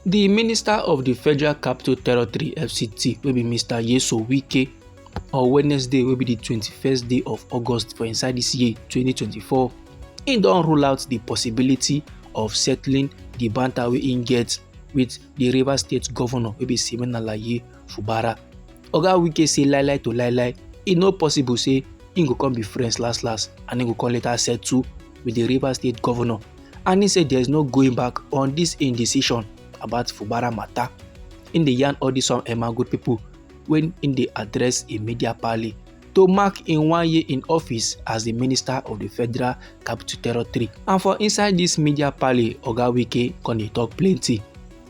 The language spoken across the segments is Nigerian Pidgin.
di minister of di federal capital territory fct wey be mr yeso wike on wednesday wey be di twenty-first day of august for inside dis year twenty twenty-four im don rule out di possibility of settling di banter wey im get wit di rivers state governor wey be siminalayi fubara oga wike say lie lie to lie lie e no possible say im go come be friends last last and im go come later settle with the Rivers State governor and he said there is no going back on this indecision about Fubara matter. In the yarn all these some Emma good people when in the address a media parley to mark in one year in office as the minister of the federal capital territory. And for inside this media parley, Oga Wike con dey talk plenty.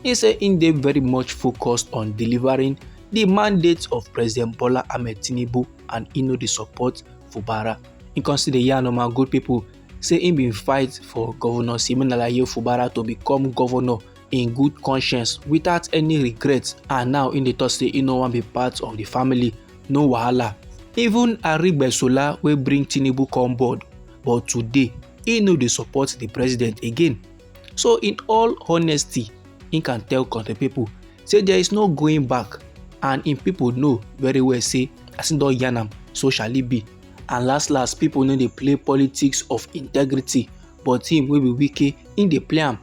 He say im dey very much focused on delivering the mandate of President Bola Ahmed Tinubu and e no dey support Fubara. He come still dey yarn on my good people say he been fight for Governor Siminalayi Fubara to become governor in good conscience without any regret and now in the talk say he no wan be part of the family no wahala even arigbesola wey bring tinubu come board but today he no dey support the president again So in all honesty, he can tell country people say there is no going back and im people know very well say as im don yarn am so shall it be and last last people no dey play politics of integrity but him wey be wike him dey play am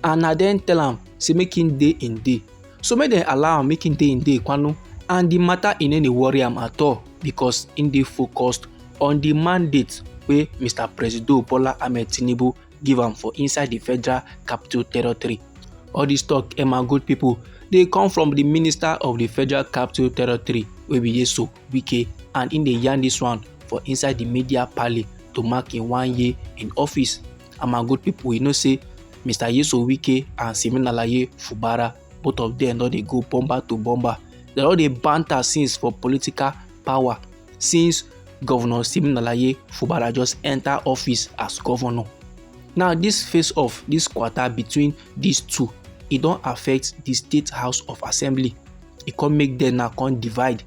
and na dem tell am say make him dey him dey so make dem allow am make him dey him dey kwanu and the matter e no dey worry am at all because him dey focused on the mandate wey mr presido bola ahmed tinubu give am for inside the federal capital territory all this talk emma eh, good people dey come from the minister of the federal capital territory wey be yeso wike and im dey yarn this one for inside the media parley to mark im one year in office and my good people you know say mr yeso wike and siminalaye fubara both of them don dey go bomber to bomber they don dey banter since for political power since governor siminalaye fubara just enter office as governor now this face off this quarter between these two e don affect the state house of assembly e come make them now come divide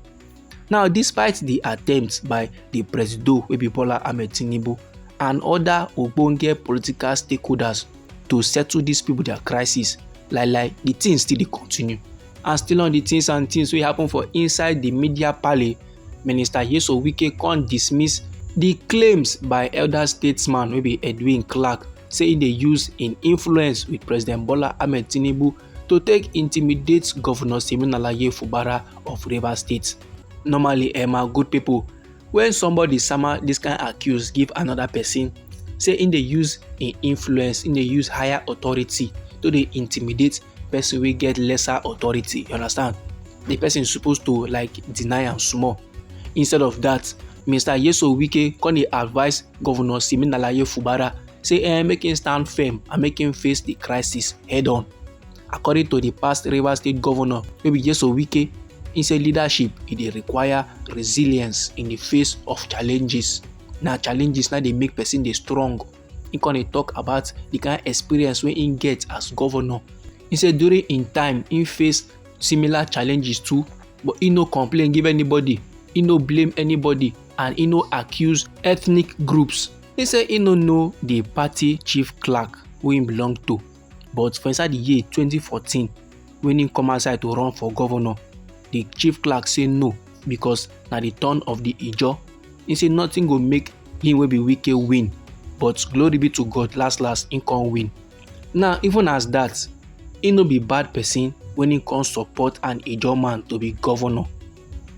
now despite the attempts by the presido wey be bola ahmed tinubu and other ogbonge political stakeholders to settle these people their crisis like like the thing still dey continue and still on the things and things wey happen for inside the media parley minister yeso wike con dismiss the claims by elder statesman wey be edwin clark say e dey use im influence with president bola ahmed tinubu to take intimidate governor siminalayi fubara of rivers state normally eh my good people when somebody sama this kind accuse give another person say in dey use in influence in dey use higher authority to dey intimidate person wey get lesser authority you understand the person suppose to like deny am small instead of that mr yeso wike come dey advise governor siminalayi fubara say eh make him stand firm and make him face the crisis head on according to di past rivers state govnor wey be jeso wike im say leadership e dey require resilience in di face of challenges na challenges na dey make pesin dey strong im con dey tok about di kain experience wey im get as govnor im say during im time im face similar challenges too but im no complain give anybody im no blame anybody and im no accuse ethnic groups im say im no know di party chief clerk wey im belong to but for inside di year 2014 wen im come outside to run for governor di chief clerk say no because na di turn of di ijaw im say nothing go make him wey be wike win but glory be to god last last im come win now even as dat im no be bad person wen im come support an ijaw man to be governor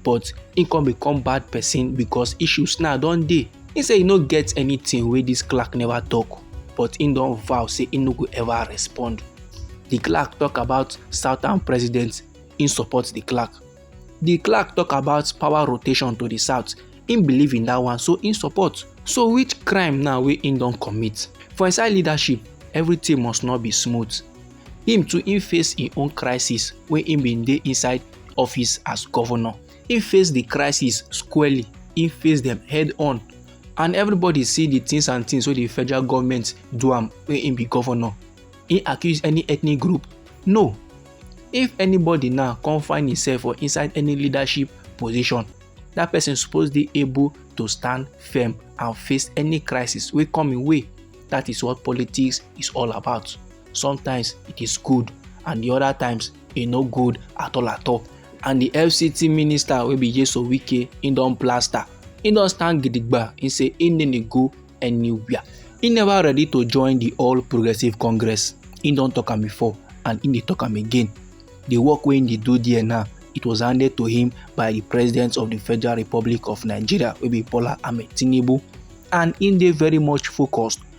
but he come become bad person because issues now don dey he say he no get anything wey this clerk never talk but he don vow say he no go ever respond the clerk talk about southern president he support the clerk the clerk talk about power rotation to the south he believe in that one so he support so which crime now wey he don commit for inside leadership everything must not be smooth him too him face him own crisis when him been dey inside office as governor him face the crisis squarely him face them head on and everybody see the things and things wey the federal government do am when him be governor he accuse any ethnic group no if anybody now come find himself for inside any leadership position that person suppose dey able to stand firm and face any crisis wey come im way that is what politics is all about sometimes it is good and the other times e no good at all at all and the fct minister wey be yeso wike he don plaster he don stand gidigba he say he no dey go anywhere he never ready to join the all progressive congress he don talk am before and he dey talk am again the work wey he dey do there now it was handed to him by the president of the federal republic of nigeria wey be bola ahmed tinubu and he dey very much focused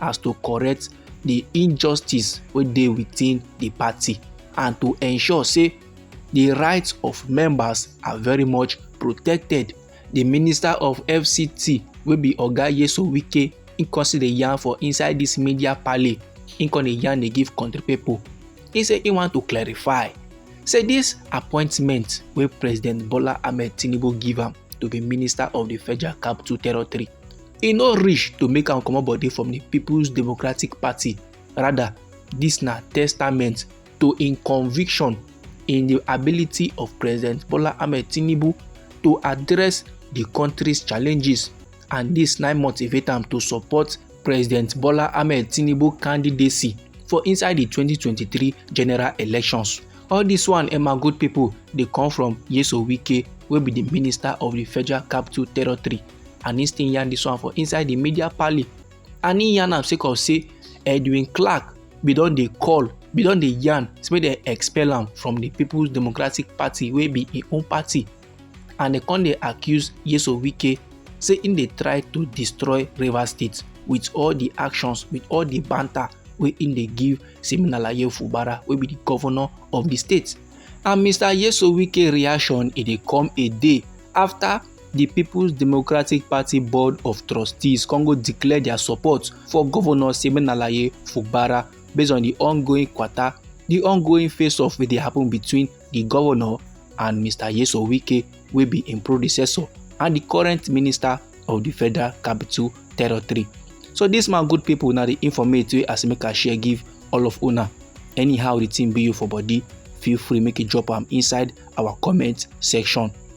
as to correct the injustice wey dey within the party and to ensure say the rights of members are very much protected the minister of fct wey be oga yeso wike he come still dey yarn for inside this media parley he come dey yarn dey give country people he say he want to clarify say this appointment wey president bola ahmed tinubu give am to be minister of the federal capital territory e no reach to make am comot body from di peoples democratic party rather dis na testament to im conviction in di ability of president bola ahmed tinubu to address di country's challenges and dis na motivate am to support president bola ahmed tinubu candidacy for inside di 2023 general elections all dis one emma eh, good pipo dey come from yeso wike wey be di minister of di federal capital territory and he still yarn this one for inside the media parley and he yarn am sake of say edwin clark bin don dey call bin don dey yarn say make dem expel am from the people's democratic party wey be im own party and dem come dey accuse yeso wike say im dey try to destroy rivers state with all the actions with all the banter wey im dey give siminalaye fubara wey be the governor of the state and mr yeso wike reaction e dey come a day after di peoples democratic party board of trustees come go declare dia support for governor siminalayi fubara based on di ongoing kwata di ongoing face-off wey dey happen between di governor and mr yeso wike wey be im predecessor and di current minister of di federal capital territory so dis man good pipo na di informate wey asimika share give all of una anyhow di tin be you for body feel free make you drop am inside our comment section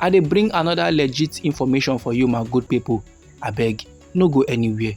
I dey bring another legit information for you my good people, abeg no go anywhere.